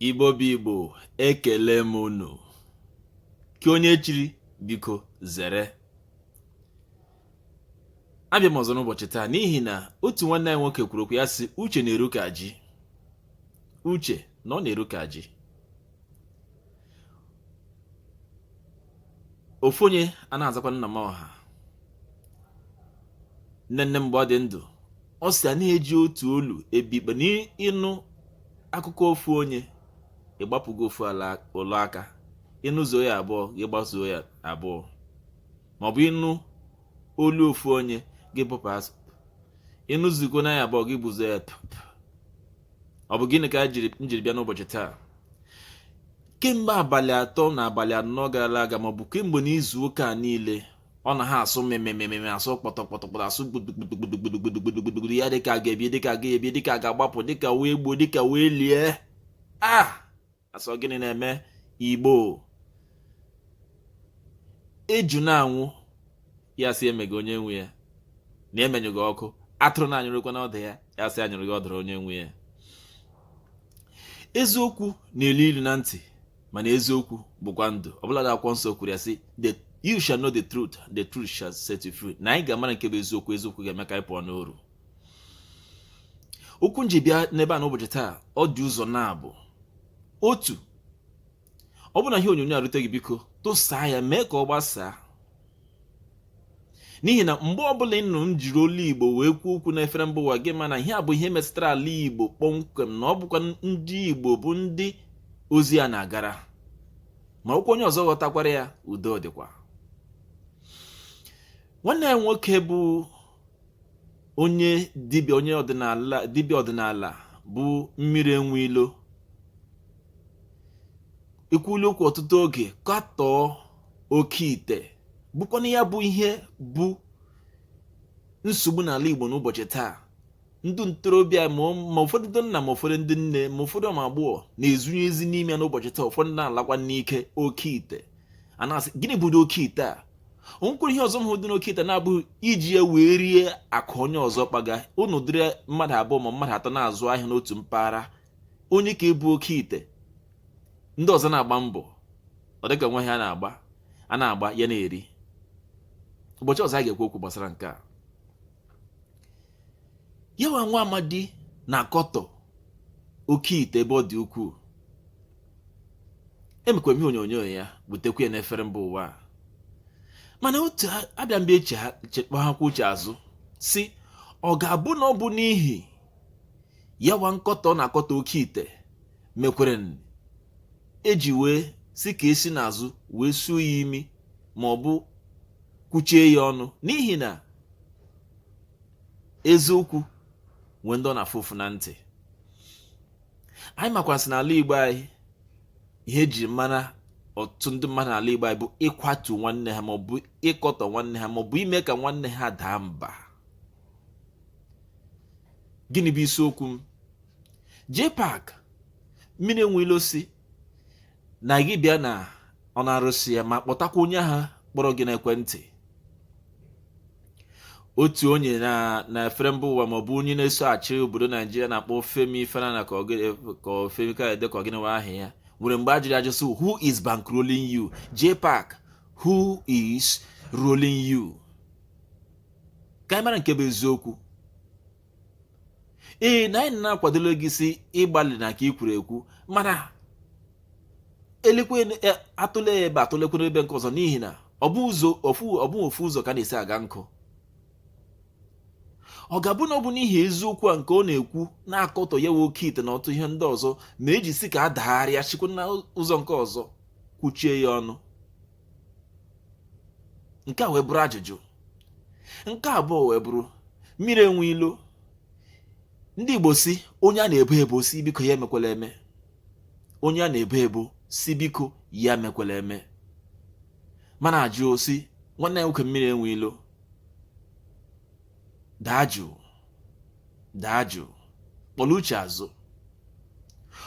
Igbo bụ Igbo ekelee m unu nke onye chiri biko zere abịa m ọzọ n'ụbọchị taa n'ihi na otu nwanne anyị nwoke kwuru okwu ya sị uche na-eru ka ji uche na ọ na-eru ka ji ofu onye a na-azakwa nna m ọha nne nne mgbe ọ dị ndụ ọ sị a na-eji otu olu ebi ikpe na ị nụ akụkọ ofu onye ị gbapụgo ofu ụlọ aka ị nụzuo ya abụọ gị gbazuo ya abụọ ma ọ bụ ị nụ olu ofu onye gị bụpụ asụ ị nụzukwa na ya abụọ gị bụzuo ya ọ bụ gịnị ka m jiri bịa n'ụbọchị taa kemgbe abalị atọ na abalị anọ gara aga ma ọ bụ kemgbe n'izu ụka niile ọ na ha asụ mmemmemmemme asụ kpọtọkpọtọkpọtọ asụ gbudugbudugbudugbudugbudugbudu ya dịka a ga-ebi dịka a ga-ebi dịka a ga-agbapụ dịka wee gbuo dịka wee lie ah a sị gịnị na-eme Igbo eju na-anwụ ya sị emega onye nwe ya na-emenyụga ọkụ atụrụ na-anyụrụkwa n'ọdụ ya ya sị anyụrụ gị ọdụrụ onye nwe ya eziokwu na-elu ilu na ntị mana eziokwu bụkwa ndụ ọbụladị akwụkwọ nsọ kwuru ya sị you shall know the truth the truth shall set you free na anyị ga-amara nke bụ eziokwu eziokwu ga-eme ka anyị pụọ n'oru okwu m ji bịa n'ebe a n'ụbọchị taa ọ dị ụzọ naabọ otu ọ bụrụ na ihe onyonyo a rute gị biko tụsaa ya mee ka ọ gbasaa n'ihi na mgbe ọbụla ị nụrụ m jiri olu Igbo wee kwuo okwu n'efere mba ụwa gị ma na ihe a bụ ihe metụtara ala Igbo kpọmkwem na ọ bụkwa ndị Igbo bụ ndị ozi a na-agara ma ọ bụkwa onye ọzọ ghọtakwara ya udo dịkwa nwanne anyị nwoke bụ onye dibịa onye ọdịnala dibịa ọdịnala bụ Mmiri Enwe Ilo ekwuola okwu ọtụtụ oge katọọ oke ite bụkwanụ ya bụ ihe bụ nsogbu n'ala Igbo n'ụbọchị taa ndị ntorobịa ma ụfọdụ ndị nna ma ụfọdụ ndị nne ma ụfọdụ ụmụ agbọghọ na-esunye isi n'ime ya n'ụbọchị taa ụfọdụ na-alakwa n'ike oke ite a na-asị gịnị bụdị oke ite a o nwekwere ihe ọzọ m hụ dị n'oke ite na-abụghị iji ya wee rie akụ onye ọzọ kpaga ụnụ dịrị mmadụ abụọ ma mmadụ atọ na-azụ ahịa n'otu mpaghara onye ka ebu oke ite ndị ọzọ na-agba mbọ ọ dịka nwa ha na-agba a na-agba ya na-eri ụbọchị ọzọ a ga-ekwu okwu gbasara nke a ya nwa nwa amadi na-akọtọ oke ite ebe ọ dị ukwuu emekwa ihe onyonyo ya butekwa ya n'efere mba ụwa a mana otu abịa mgbe e kpọghakwa uche azụ si ọ ga-abụ na ọ bụ n'ihi ya nwa nkọtọ na-akọtọ oke ite mekwara e ji wee si ka e si n'azụ wee suo ya imi ma ọ bụ kwuchie ya ọnụ n'ihi na eziokwu nwere ndị ọ na-afụ ụfụ na ntị anyị makwasị n'ala Igbo anyị ihe eji mara ọtụtụ ndị mmadụ n'ala Igbo anyị bụ ịkwatu nwanne ha maọbụ ịkọtọ nwanne ha maọbụ ime ka nwanne ha daa mba gịnị bụ isiokwu m JPAC mmiri enwe ilo si na gị bịa ṅụọ n'arụsị ya ma kpọtakwa onye ahụ kpọrọ gị n'ekwentị otu onye na na efere mba ụwa maọbụ onye na-eso achị obodo naijiria na-akpọ Femi Falana ka Femi Kayode ka ọ gịnị aha ya nwere mgbe a jụrụ ajụ si who is bankrolling you JPAC who is rolling you ka anyị mara nke bụ eziokwu ee na anyị na-akwadoro gị si ị gbalịna ka ị kwuru ekwu mana elekwa e, atụle ebe a atụlekwa n'ebe nke ọzọ n'ihi na ọ bụ ụzọ ofu ọ bụ ofu ụzọ ka a na-esi aga nkụ ọ ga-abụ na ọ bụ n'ihi eziokwu a nke ọ na-ekwu na-akọtọ ya nwa oke ite na ọtụtụ ihe ndị ọzọ ma eji si ka a dagharịa sikwa na ụzọ nke ọzọ kwuchie ya ọnụ nke a wee bụrụ ajụjụ nke abụọ wee bụrụ mmiri enwe ilo ndị Igbo si onye a na-ebo ebo si biko ya emekwala eme onye a na-ebo ebo si biko ya emekwala eme mana ajụ si nwanne anyị nwoke mmiri enwe ilo daa jụụ daa jụụ kpọrọ uche azụ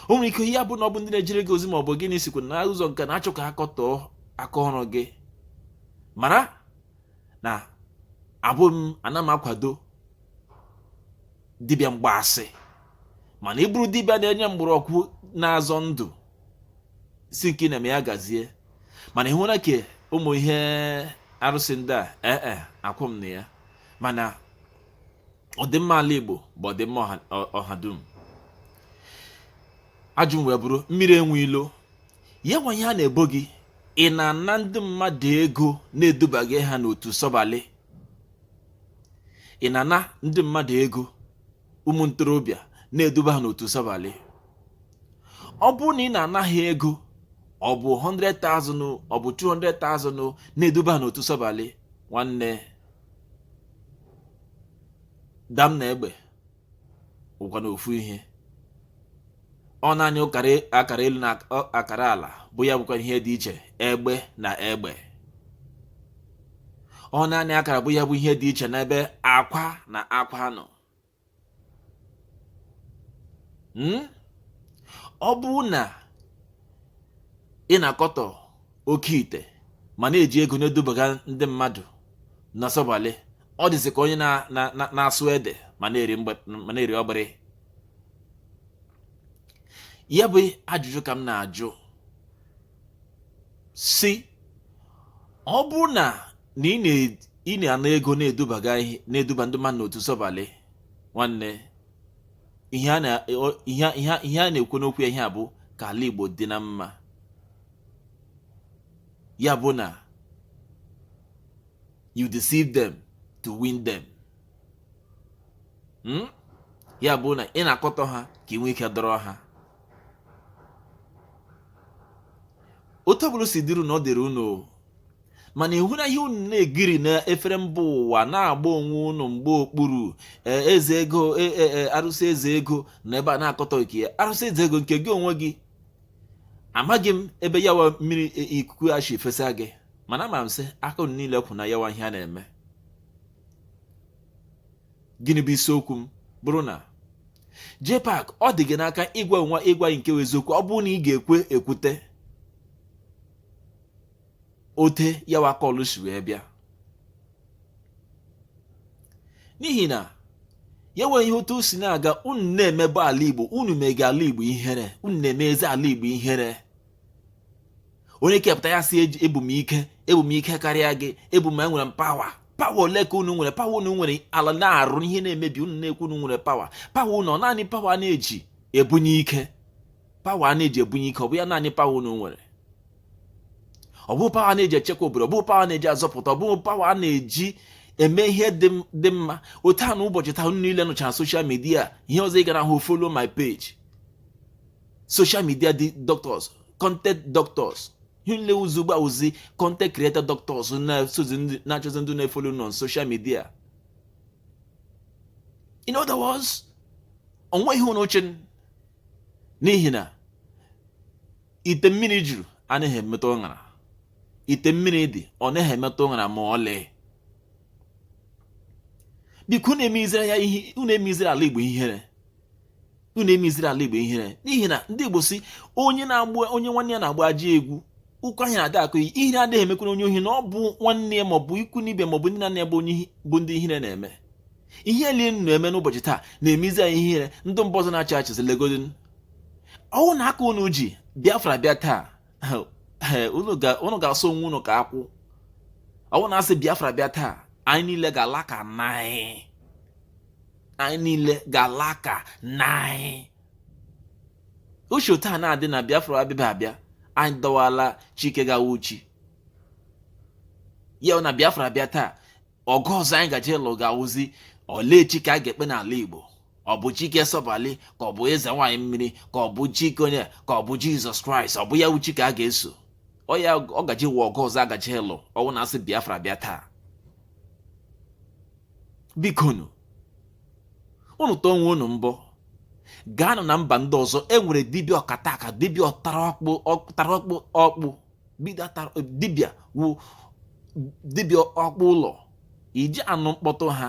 o nwere ike ya abụ na ọ bụ ndị na-ejere gị ozi ma ọ bụ gịnị sikwa na ụzọ nke na-achọ ka a kọtọọ aka ọrụ gị mara na abụ m ana m akwado dibịa mgbaasị mana ị bụrụ dibịa na-enye mgbọrọgwụ na-azọ ndụ si nke ị na-eme ya gazie mana ị hụrụ nke ụmụ ihe arụsị ndị a ee eh, eh, akwụ m na ya mana ọdịmma ala Igbo bụ ọdịmma ọha dum ajụ m wee bụrụ mmiri enwe ilo ya nwa ihe a na-ebo gị ị na-ana ndị mmadụ ego na-eduba ha n'otu sọbalị ị na-ana ndị mmadụ ego ụmụ ntorobịa na-eduba ha n'otu sọbalị ọ bụrụ na ị na-ana ha ego ọ bụ 100,000 ọ bụ 200,000 na-eduba ha n'otu sọbalị nwanne dam na egbe wụkwanụ ofu ihe ọ naanị akara elu na akara ala bụ ya bụkwa ihe dị iche egbe na egbe ọ naanị akara bụ ya bụ ihe dị iche n'ebe akwa na akwa nọ hmm? ọ bụrụ na ị na-akọtọ oke ite ma na-eji ego na-edubaga ndị mmadụ na sọbalị ọ dịzị ka onye na-asọ ede ma na-eri ọgbịrị ya bụ ajụjụ ka m na-ajụ si ọ bụrụ na na ị na-ana ego na-edubaga na-eduba ndị mmadụ n'otu sọbalị nwanne ihe a na-ekwu n'okwu ya ihe a bụ ka ala Igbo dị na mma ya bụ na you deceive them to win them hmm? ya bụ na ị na-akọtọ ha ka ị nwee ike dọrọ ha otu ọbụla si dịrị unu ọ dịrị unu mana ị hụrụ ihe a unu na-egiri efere mba ụwa na-agba onwe unu mgba okpuru e, eze ego e, e, arụsị eze ego na ebe a na-akọtọ nke ya arụsị eze ego nke gị onwe gị amaghị m ebe yawa mmiri ikuku ya si fesa gị mana ama m sị aka unu niile kwụ na yawa ihe a na-eme gịnị bụ isiokwu m bụrụ na JPAC ọ dị gị n'aka ịgwa anyị nwa ịgwa anyị nke wụ eziokwu ọ bụrụ na ị ga-ekwe ekwute otu ya wakọlụ si wee bịa n'ihi na ya nwere ihe otu o si na-aga unu na-emebọ ala Igbo unu mega ala Igbo ihere unu na-emezi ala Igbo ihere onye kepụta ya sị ebu m ike ebu m ike karịa gị ebu m enwere m power power ole ka unu nwere power unu nwere ala na-arụ ihe na-emebi unu na-ekwu unu nwere power power unu ọ naanị power a na-eji ebunye ike power a na-eji ebunye ike ọ bụ ya naanị power unu nwere ọ bụ power a na-eji echekwa obodo ọ bụ power a na-eji azọpụta ọ bụ power a na-eji eme ihe dị mma otu a na ụbọchị taa unu niile nọcha na social media ihe ọzọ ị ga-ahụ follow my page social media doctors content doctors niile wụzi ugbu a wụzi content creator doctors na-esozi ndị- na-achọzi ndị na-efolo unu na social media in other words onweghị ihe unu chị n- n'ihi na ite mmiri juru anaghị emetụ ṅara ite mmiri dị ọ naghị emetụ ṅara ma ọlị biko unu emezira ya ihe unu emezira ala igbo ihere unu emeziri ala igbo ihere n'ihi na ndị igbo si onye na-agba onye nwanne ya na-agba ajọ egwu ọkọ ahịa na-adị akọ ihere adịghị emekwere onye ohi na ọ bụ nwanne ya maọbụ ikwu na ibe maọbụ ndị enyi ya bụ bụ ndị ihere na-eme ihe ile unu na-eme n'ụbọchị taa na-emezi anyị ihere ndị mba ọzọ na-achị achịzi legodi ọ wụ na aka unu ji biafra bịa taa unu ga-asụ onwe unu ka akwụ ọ wụ na a sị biafra bịa taa anyị niile ga-ala ka naị anyị niile ga-ala ka naị ụbọchị taa na-adị na biafra abịabe abịa anyị dọwala chi ke ga-awụ chi ya na biafra bịa taa ọgụ ọzọ anyị gaje lụ ga-awụzi olee chi ka a ga-ekpe n'ala igbo ọ bụ chi ke sọbali ka ọ bụ eze nwaanyị mmiri ka ọ bụ chi ke onye ka ọ bụ jizọs kraịst ọ bụ ya wụ chi ka a ga-eso ọ ya ọ gaje wụ ọgụ ọzọ a gaje lụ ọ wụ na a sị biafra bịa taa bikonu unu tụọ onwe unu mbọ gaanụ na mba ndị ọzọ e nwere dibịa ọkata aka dibịa ọtara ọkpụ ọtara ọkpụ ọkpụ dibịa wụ dibịa ọkpụ ụlọ iji anụ mkpọtụ ha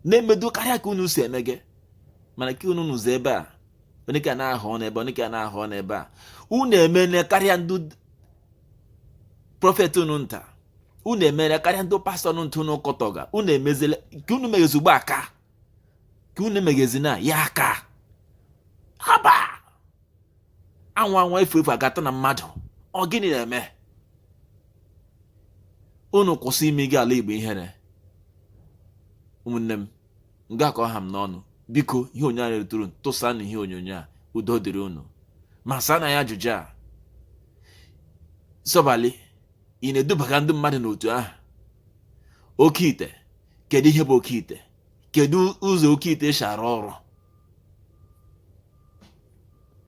na-emedị karịa ka unu si emega mana ka unu nọzi ebe a onye ka na-ahụ n'ebe onye ka na-ahụ n'ebe a unu emene karịa ndị prọfet unu nta unu emere karịa ndị pastọ ọnụ ntụ unu kọtọga unu emezile ka unu meghezi ugbu a ka unu meghezi na ya aka haba anwụ anwụ efu efu agata na mmadụ ọ gịnị na-eme unu kwụsị imega ala igbo ihere ụmụnne m nga ka ọ ha m n'ọnụ biko ihe onyonyo anyị retụrụ tụsa na ihe onyonyo a udo dịrị unu ma saa na ya ajụjụ a sọbali ị na-edubaga ndị mmadụ n'otu ahụ oke ite kedu ihe bụ oke ite kedu ụzọ oke ite si arụ ọrụ